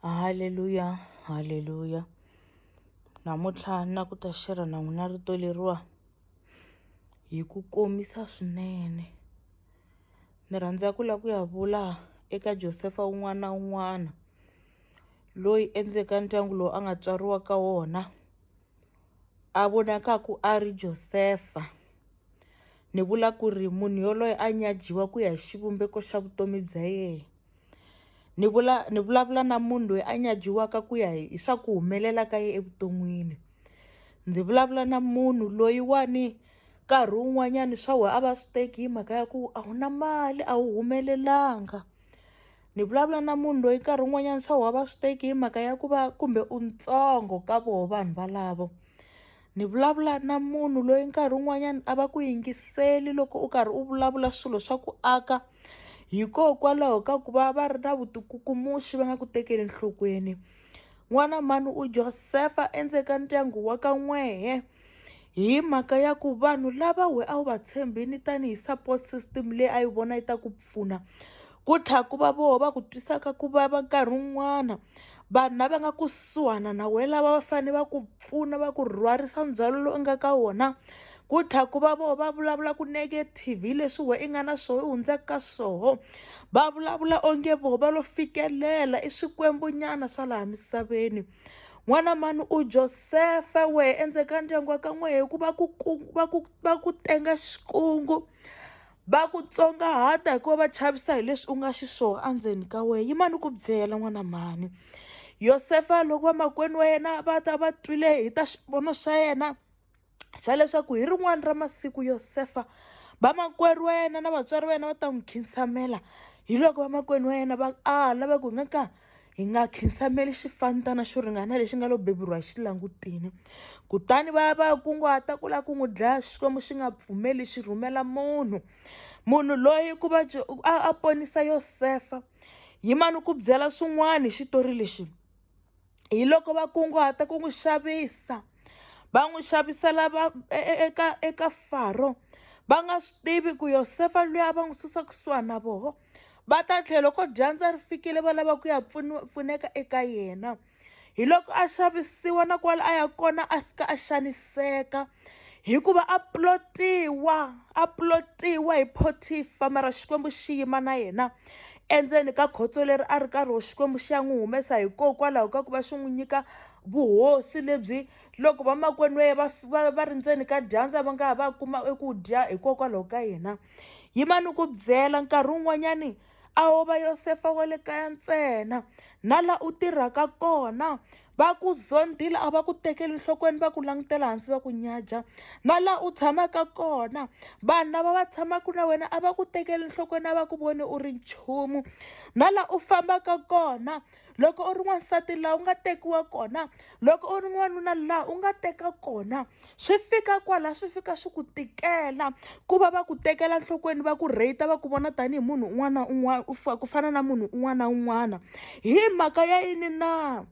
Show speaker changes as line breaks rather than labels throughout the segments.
Haleluya, haleluya. Namuntlha na ku ta xerha na n'wina rito leriwa hi ku komisa swinene. Ni rhandza ku lava ku ya vula eka Josefa un'wana na un'wana loyi endzeni ka ndyangu lowu a nga tswariwa ka wona. a vonakaku a ri Josefa. Ni vula ku ri munhu yoloye a nyajiwa ku ya hi xivumbeko xa vutomi bya yehe. Ni vula ni vulavula na munhu loyi a nyajiwaka ku ya hi hi swa ku humelela ka yena evuton'wini. Ndzi vulavula na munhu loyiwani nkarhi wun'wanyani swa wena a va swi teki hi mhaka ya ku a wu na mali a wu humelelanga. ni vulavula na munhu loyi nkarhi wun'wanyana swa wava swi teki hi mhaka ya ku va kumbe u ntsongo ka voho vanhu valavo ni vulavula na munhu loyi nkarhi wun'wanyana a va ku yingiseli loko u karhi u vulavula swilo swa ku aka hikokwalaho ka ku va va ri na vutikukumuxi va nga ku tekeli enhlokweni n'wana mhani u Joseph endzeni ka ndyangu wa ka n'wehe. hi mhaka ya ku vanhu lava we a wu va tshembini tanihi support system leyi a yi vona yi ta ku pfuna ku tlha ku va voho va ku twisaka ku vava nkarhi wun'wana vanhu lava nga kusuhana na we lava va fanele va ku pfuna va ku rhwarisa ndzhwalo lowu nga ka wona ku tlha ku va voho va vulavula ku negative hi leswi we i nga na swoho i hundzaka ka swoho va vulavula onge voho va lo fikelela i swikwembunyana swa laha misaveni n'wana mani u josefa wehe endzeni ka ndyangu wa ka n'wehe ku va ku va ku va ku tenga xikungu va ku tsongahata hikuva va chavisa hi leswi u nga xiswona endzeni ka wena yimana ni ku byela n'wana mhani yosefa loko vamakwenu wa yena va ta va twile hi ta xivono xa yena xa leswaku hi rin'wana ra masiku Yosefa vamakwerhu wa yena na vatswari va yena va ta n'wi khinsamela hi loko vamakwenu wa yena va ala va ku hi nga ka hi nga khinsameli xifantana xo ringana lexi nga lo beburiwa hi xilangutini kutani va ya va ya kunguhata ku lava ku n'wi dlaya xikwembu xi nga pfumeli xi rhumela munhu munhu loyi ku va a ponisa yosefa yimani ku byela swin'wana hi xitori lexi hi loko va kunguhata ku n'wi xavisa va n'wi xavisela va e, e, eka eka faro va nga swi tivi ku yosefa luya va n'wi susa kusuhani na voho va ta tlhelo ko dyandza ri fikile va lava ku ya pfuneka eka yena hi loko a xavisiwa na kwala a ya kona a fika a xaniseka hikuva a plotiwa a plotiwa hi photifa mara xikwembu xi yima na yena endzeni ka khotso leri a ri karhi xikwembu xi ya n'wi humesa hikokwalaho ka ku va xi n'wi nyika vuhosi lebyi loko vamakwenu va va va va ri ndzeni ka dyandza va nga ha va kuma eku dya hikokwalaho ka yena yimani ku byela nkarhi wun'wanyani a wo va yosefa wa le kaya ntsena na la u tirhaka kona Va ku zondile a va ku tekeli nhlokweni va ku langutela hansi va ku nyaja na laha u tshamaka kona vanhu lava va tshamaka na wena a va ku tekeli nhlokweni a va ku voni u ri nchumu na laha u fambaka kona loko u ri n'wansati laha u nga tekiwa kona loko u ri n'wanuna laha u nga teka kona swi fika kwala swi fika swi ku tikela ku va va ku tekela enhlokweni va ku rate va ku vona tanihi munhu un'wana na un'wana u ku fana na munhu un'wana na un'wana hi mhaka ya yini na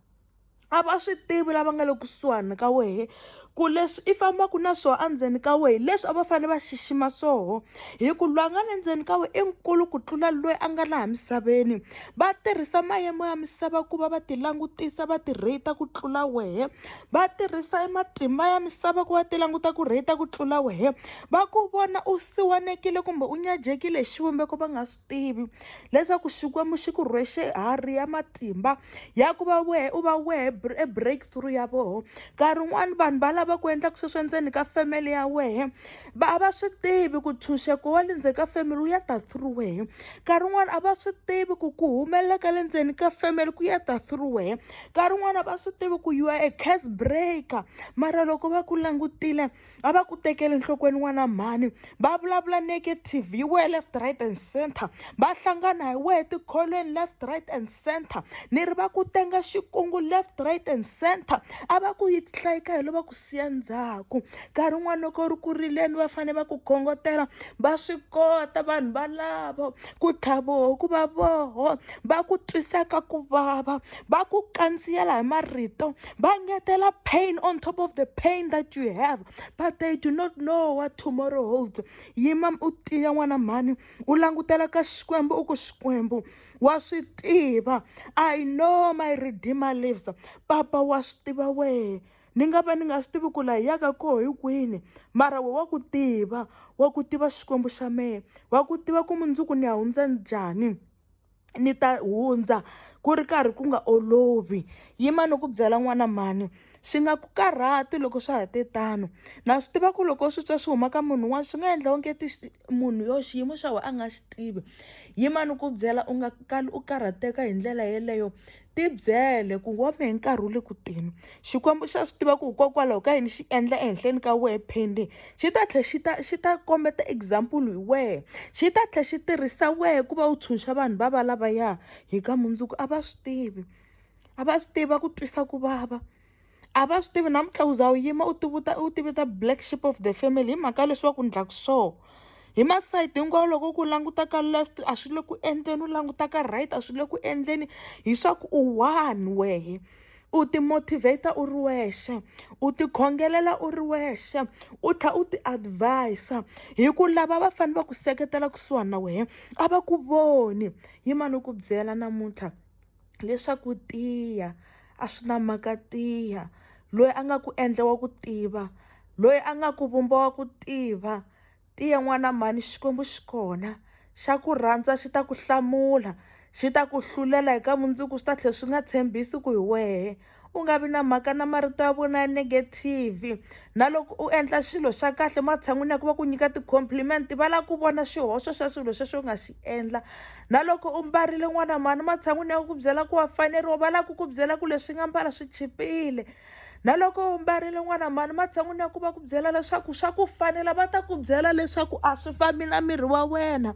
a va swi tivi lava nga le kusuhani ka wehe ku leswi i fambaka na swona endzeni ka wehe leswi a va fanele va xixima swoho. hi ku loyi a nga le ndzeni ka wena i nkulu ku tlula loyi a nga laha misaveni va tirhisa mayimo ya misava ku va va ti langutisa va ti rate ku tlula wehe va tirhisa e matimba ya misava ku va ti languta ku rate ku tlula wehe va ku vona u siwanekile kumbe u nyajekile hi xivumbeko va nga swi tivi leswaku Xikwembu xi ku rhwexe harhi ya matimba ya ku va wehe u va wehe e breakthrough ya voho nkarhi wun'wani vanhu va lava ku endlaka sweswo endzeni ka family ya wehe va a va swi tivi ku ntshunxeko wa le ndzeni ka family wu ya ta through wehe nkarhi wun'wani a va swi tivi ku ku humelela ka le ndzeni ka family ku ya ta through wehe nkarhi wun'wani a va swi tivi ku you are a case breaker mara loko va ku langutile a va ku tekeli enhlokweni n'wana mhani va vulavula negative hi wehe left right and center va hlangana hi wehe tikholweni left right and center ni ri va ku tenga xikungu left right and center a va ku yi hlayika hi lo va ku siya ndzhaku nkarhi wun'wana loko u ri ku rileni va fanele va ku khongotela va swi kota vanhu valavo ku tlhavoho ku va voho va ku twisaka ku vava va ku kandziyela hi marito va ngetela pain on top of the pain that you have but they do not know what tomorrow holds yima u tiya n'wana mhani u langutela ka xikwembu u ku xikwembu wa swi tiva i know my redeemer lives papa wa swi tiva wehe ni nga va ni nga swi tivi ku laha hi yaka koho hi kwini mara we wa ku tiva wa ku tiva xikwembu xa mehe wa ku tiva ku mundzuku ni ya hundza njhani ni ta hundza ku ri karhi ku nga olovi yima ni ku byela n'wana mhani Swi nga ku karhati loko swa ha te tano. Na swi tiva ku loko u swi twa swi huma ka munhu un'wana swi nga endla onge ti munhu yo xiyimo xa wena a nga xi tivi. Yimani ku byela u nga kali u karhateka hi ndlela yeleyo. Ti byele ku wa mehe nkarhi wu le ku teni. Xikwembu xa swi tiva ku hikokwalaho ka yini xi endla ehenhleni ka wehe pending, xi ta tlhela xi ta xi ta kombeta example hi wehe. Xi ta tlhela xi tirhisa wehe ku va u tshunxa vanhu va va lavaya hi ka mundzuku, a va swi tivi. a va swi tivi va ku twisa ku vava a va swi tivi namuntlha u za u yima u tivuta u tivita black ship of the family hi mhaka leswi va ku ndlaku sure hi masayiti hinkwawo loko ku languta ka left a swi le ku endleni u languta ka right a swi le ku endleni hi swa ku u one wehe u ti-motivator u ri wexe u tikhongelela u ri wexe u tlha u ti-advise-a hi ku lava va fanele va ku seketela kusuhani na wehe a va ku voni yimani u ku byela namuntlha leswaku tiya a swi na mhaka tiya loyi a nga ku endla wa ku tiva loyi a nga ku vumba wa ku tiva tiya n'wana mhani xikwembu xi kona xa ku rhandza xi ta ku hlamula xi ta ku hlulela hi ka mundzuku swi ta tlhela swi nga tshembisi ku hi wehe. u nga vi na mhaka na marito ya vona ya negative na loko u endla xilo xa kahle matshan'wini ya ku va ku nyika ti-compliment va lava ku vona xihoxo xa swilo sweswo u nga xi endla na loko u mbarile n'wana mhani matshan'wini ya ku byela ku wa faneriwa va lava ku ku byela ku leswi nga mbala swi chipile na loko u mbarile n'wana mhani matshan'wini ya ku va ku byela leswaku swa ku fanela va ta ku byela leswaku a swi fambi na miri wa wena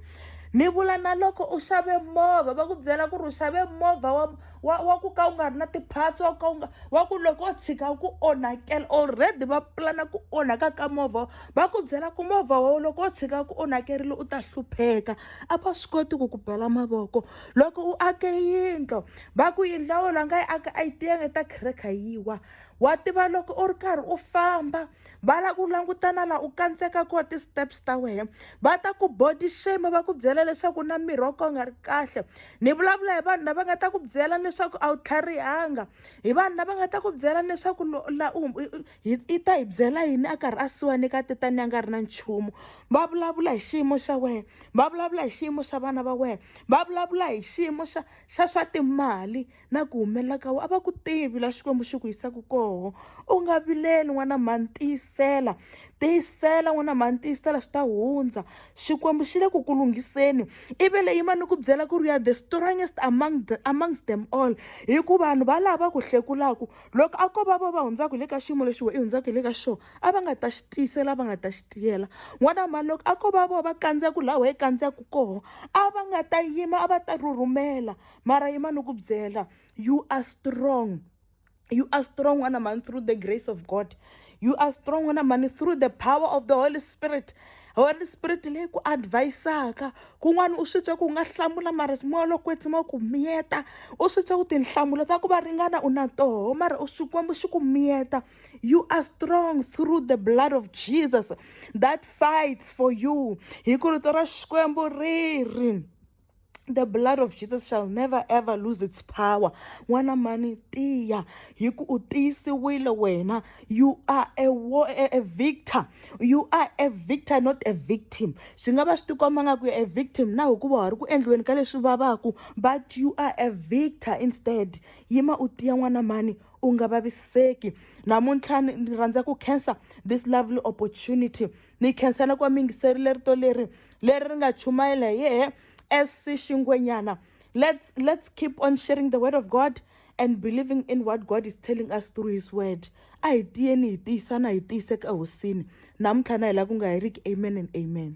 ni vula na loko u xave movha va ku byela ku ri u xave movha wa wa wa ku ka u nga ri na ti-parts wa ku ka u nga wa ku loko o tshika ku onhakela already va pulana ku onhaka ka movha va ku byela ku movha wowo loko o tshika ku onhakerile u ta hlupheka a va swi koti ku ku bela mavoko loko u ake yindlo va ku yindla wona nga yi aka a yi tiyanga ta khireka yi wa wa tiva loko u ri karhi u famba va la ku langutana la u kandzeka koho ti-steps ta wena va ta ku body shame va ku byela leswaku na miri wa koho nga ri kahle ni vulavula hi vanhu lava nga ta ku byela leswaku a wu tlharihanga hi vanhu lava nga ta ku byela leswaku la u i ta hi byela yini a karhi a siwani ka tetani a nga ri na nchumu va vulavula hi xiyimo xa wena va vulavula hi xiyimo xa vana va wena va vulavula hi xiyimo xa xa swa timali na ku humelela ka wena a va ku tivi la xikwembu xi ku yisaka koho u nga vileli n'wana mhani tiyisela tiyisela n'wana mhani tiyisela swi ta hundza xikwembu xi le ku ku lunghiseni i ve leyi ma ni ku byela ku ri ya the strongest among the, amongst them all hi ku vanhu va laha va ku hlekulaku loko a ko va va va hundzaka hi le ka xiyimo lexi we i hundzaka hi le ka xona a va nga ta xi tiyisela va nga ta xi tiyela n'wana mhani loko a ko va vo va kandziyaku laha we i kandziyaku koho a va nga ta yima a va ta rhurhumela mara yima ni ku byela you are strong you are strong wena mhani through the grace of god you are strong wena mhani through the power of the holy spirit holy spirit leyi ku advisaka kun'wana u swi twa ku nga hlamula mara moya lo kwetsima ku miyeta u swi twa ku tinhlamulo ta ku va ringana u na toho mara u xikwembu xi ku miyeta you are strong through the blood of jesus that fights for you hi ku rito ra xikwembu ri ri the blood of jesus shall never ever lose its power n'wana mani tiya hi ku u tiyisiwile wena you are a, war, a, a victor you are a victor not a victim swi nga va swi tikomba nga ku ya a victim na hikuva wa ri ku endliweni ka leswi vavaku but you are a victor instead yima u tiya n'wana mani u nga vaviseki namuntlha ni rhandza ku khensa this lovely opportunity ni khensela ku va mi yingiserile rito leri leri ri nga chumayela hi yehe sc xingwenyana let's, let's keep on sharing the word of god and believing in what god is telling us through his word a hi tiyeni hi tiyisana hi tiyiseka ehosini namuntlha na hi laha ku nga heriki amen and amen